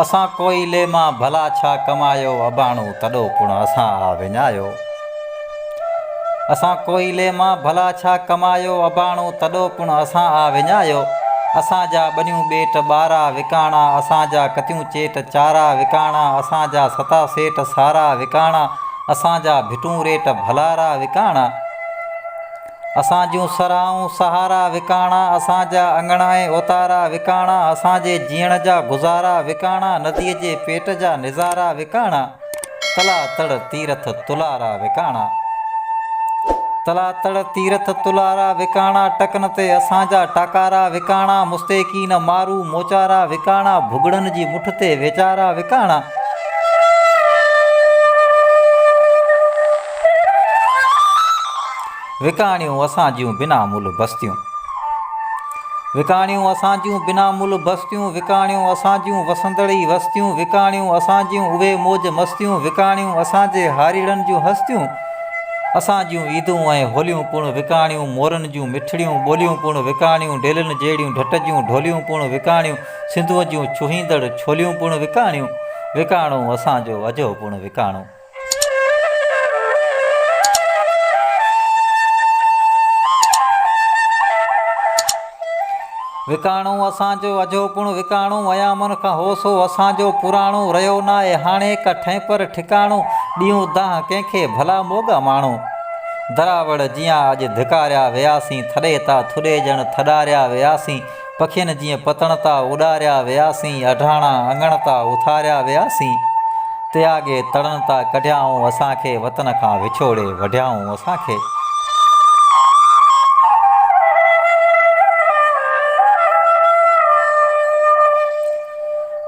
اسان ڪوئلي مان ڀلا ڇا ڪمايو اباڻو تڏو پڻ اسان آ وڃايو اسان ڪوئلي مان ڀلا ڇا ڪمايو اباڻو تڏو پڻ اسان آ وڃايو اسان جا ٻنيون ٻيٽ ٻارا وڪاڻا اسان جا ڪتيون چيٽ چارا وڪاڻا اسان جا ستا سيٽ سارا وڪاڻا اسان جا ڀٽون ريٽ ڀلارا وڪاڻا اسان جون سرهائون سهارا وڪاڻا اسان جا اڱڻ ۽ اوتارا وڪاڻا اسان جي جيئڻ جا گذارا وڪاڻا نديء جي پيٽ جا نظارا وڪاڻا تلا تڙ تيرٿ تلارا وڪاڻا تلا تڙ تيرٿ تلارا وڪاڻا ٽڪن تي اسان جا ٽاڪارا وڪاڻا مستيقين مارو موچارا وڪاڻا ڀڳڙن جي مٺ تي ويچارا وڪاڻا وڪاڻيون اسان جون بنا ملهه بستيون وڪاڻيون اسان جون بنا ملهه بستيون وڪاڻيون اسان جون وسندڙ ئي وستيون وڪاڻيون اسان جون اهي موج مستيون وڪاڻيون اسان جي هاريڙن جون هستيون اسان جون عيدون ۽ هوليون پڻ وڪاڻيون مورن جون مٺڙيون ٻوليون پڻ وڪاڻيون ڊيلن جهڙيون ڍٽ جون ڍوليون پڻ وڪاڻيون سنڌوء جون ڇهيندڙ ڇوليون پڻ وڪاڻيون. وڪاڻو اسان جو اجهو پڻ وڪاڻو. وڪاڻو اسان جو اجهو پڻ وڪاڻو. ايامن کان هو سو اسان جو پراڻو. رهيو ناهي هاڻي ڪا ٺهينپر ٺڪاڻو. ڏيون دانهن ڪنهن کي ڀلا موڳا ماڻهو. دراوڙ جيان اڄ ڌڪاريا وياسين. ٿڏي تا ٿڏي ڄڻ ٿڏاريا وياسين. پکين جيئن پتڻ تان اڏاريا وياسين، اڍاڻا اڱڻ تان اٿاريا وياسين، تياڳي تڙن تان ڪڍيائون اسان کي، وطن کان وڇوڙي وڍيائون اسان کي.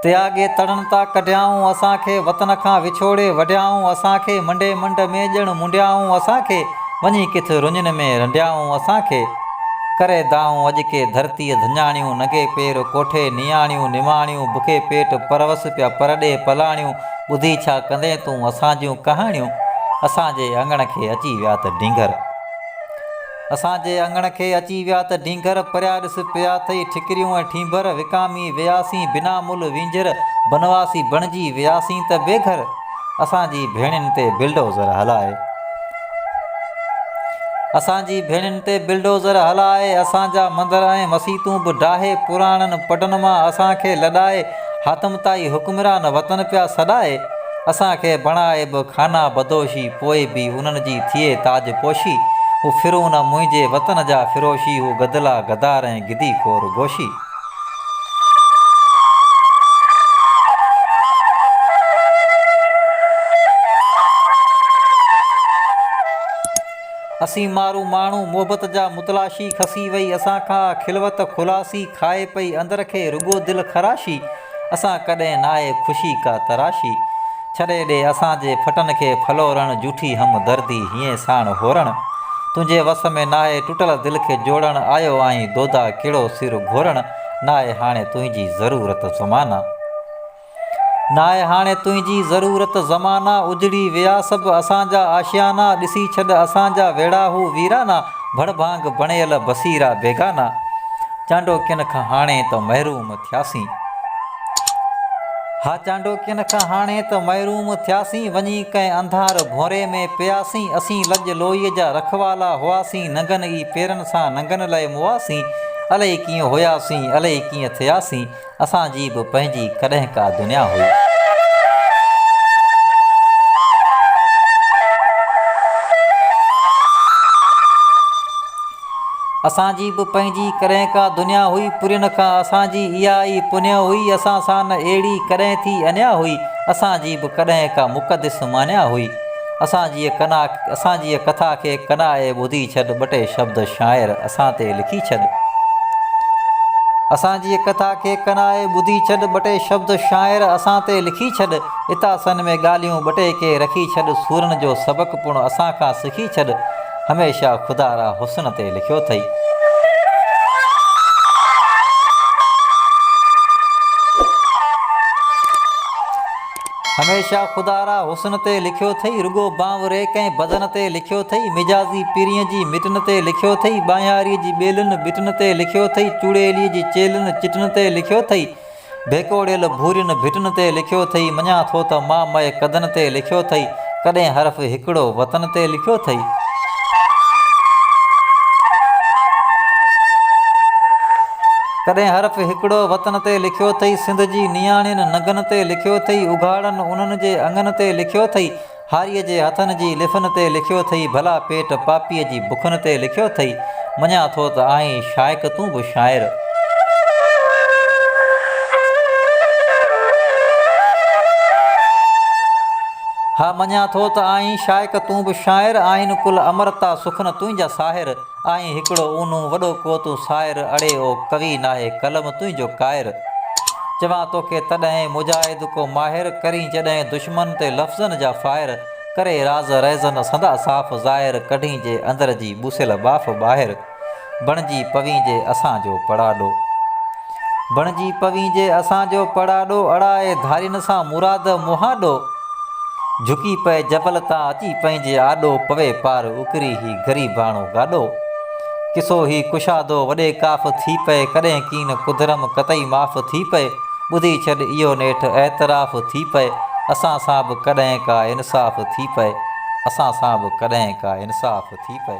تياڳي تڙن تان ڪڍيائون اسان کي وطن کان وڇوڙي وڍيائون اسان کي منڊي منڊ ۾ ڄڻ منڊيائون اسان کي وڃي ڪٿ رڃن ۾ رنڊيائون اسان کي ڪري دانهون اڄ ڪي ڌرتيء ڌڃاڻيون ننگي پير ڪوٺي نياڻيون نماڻيون بکي پيٽ پروس پيا پرڏيهه پلاڻيون ٻڌي ڇا ڪندين تون اسان جون ڪهاڻيون اسان جي اڱڻ کي اچي ويا ته ڊينگر اسان جي اڱڻ کي اچي ويا ته ڍينگهر پريا ڏس پيا اٿئي ٺڪريون ۽ ٺينڀر وڪامي وياسين بنا ملهه وينجهر بنواسي بڻجي وياسين ته بي گهر اسان جي ڀيڻين تي بلڊوزر هلائي اسان جي ڀيڻين تي بلڊوزر هلائي اسان جا مندر ۽ مسيتون به ڊاهي پراڻن پڊن مان اسان کي لڏائي حاتم طائي حڪمران وطن پيا سڏائي، اسان کي بڻائي به خانه بدوشي، پوء به انهن جي ٿئي تاج پوشي، هو فرعون منهنجي وطن جا فروشي، هو گدلا غدار ۽ گدي خور گوشي. اسين مارو ماڻهو محبت جا متلاشي کسي وئي اسان کان آ خلوت خلاصي کائي پئي اندر کي رڳو دل خراشي اسان ڪڏهن ناهي خوشي ڪا تراشي ڇڏي ڏي اسان جي ڦٽن کي ڦلورڻ جوٺي همدردي هيئين ساڻ هورڻ تنهنجي وس ۾ ناهي ٽٽل دل کي جوڙڻ آيو آهين دودا ڪهڙو سر گهورڻ ناهي هاڻي تنهنجي ضرورت زمانه. ناهي هاڻي تنهنجي ضرورت زمانا اجڙي ويا سڀ اسان جا آشيانا ڏسي ڇڏ اسان جا ويڙها هو ويرانا ڀڙ ڀانگ بڻيل بصيرا بيگانا چانڊوڪين کان هاڻي ته محروم ٿياسين ها چانڊوڪين کان هاڻي ته محروم ٿياسين وڃي ڪنهن انڌار ڀونري ۾ پياسين اسين لڄ لوئي جا رکوالا هئاسين ننگن ئي پيرن سان ننگن لئه موئاسين الئي ڪيئن هياسين الئي ڪيئن ٿياسين اسان جي به پنهنجي ڪڏهن ڪا دنيا هئي. اسان جي به پنهنجي ڪڏهن ڪا دنيا هئي. پرين کان اسان جي اها ئي پنيو هئي. اسان سان نه اهڙي ڪڏهن ٿي انيا هئي. اسان جي به ڪڏهن ڪا مقدس مانيا هئي. اسان جيء ڪنا اسان جيء ڪٿا کي ڪنا اي ٻڌي ڇڏ ٻه ٽي شبد شاعر اسان تي لکي ڇڏ اسان جيء ڪٿا کي ڪنا اي ٻڌي ڇڏ ٻه ٽي شبد شاعر اسان تي لکي ڇڏ اتاسن ۾ ڳالهيون ٻه ٽي ڪي رکي ڇڏ سورن جو سبق پڻ اسان کان سکي ڇڏ هميشه خدا را حسن تي لکيو ٿئي. هميشه خدا را حسن تي لکيو ٿئي رڳو بانوري ڪنهن بدن تي لکيو ٿئي مجازي پرين جي مٽن تي لکيو ٿئي ٻانهياري جي ٻيلن ٻٽن تي لکيو ٿئي چوڙيلي جي چيلن چٽن تي لکيو ٿئي ڀيڪوڙيل ڀورين ڀٽن تي لکيو ٿئي مڃان ٿو ته مامئي قدن تي لکيو ٿئي ڪڏهن حرف هڪڙو وطن تي لکيو ٿئي؟ ڪڏهن حرف هڪڙو وطن تي لکيو ٿئي؟ سنڌ جي نياڻين ننگن تي لکيو ٿئي؟ اگهاڙن انهن جي اڱن تي لکيو ٿئي؟ هاريء جي هٿن جي لفن تي لکيو ٿئي؟ ڀلا پيٽ پاپيء جي بکن تي لکيو ٿئي؟ مڃان ٿو ته آهين شائق تون به شاعر. ها مڃان ٿو ته آهين شائق تون به شاعر آهن ڪل امرتا سخن تنهنجا ساحر آهين هڪڙو اونهون وڏو ڪو تون سائر اڙي او ڪوي ناهي قلم تنهنجو ڪائر چوان توکي تڏهن مجاهد ڪو ماهر ڪرين جڏهن دشمن تي لفظن جا فائر ڪري راز رهزن سندا صاف ظاهر ڪڍين جي اندر جي ٻوسيل ٻاڦ ٻاهر بڻجي پوين جي اسان جو پڙاڏو بڻجي پوين جي اسان جو پڙاڏو اڙائي ڌارين سان مراد مهاڏو جهڪي پئي جبل تان اچي پنهنجي آڏو پوي پار اڪري هي غريباڻو گاڏو ڪسو هي ڪشادو وڏي ڪاف ٿي پئي ڪڏهن ڪين ڪڌرم قطعي معاف ٿي پئي. ٻڌي ڇڏ اهو نيٺ اعتراف ٿي پئي اسان سان به ڪڏهن ڪا انصاف ٿي پئي اسان سان به ڪڏهن ڪا انصاف ٿي پئي.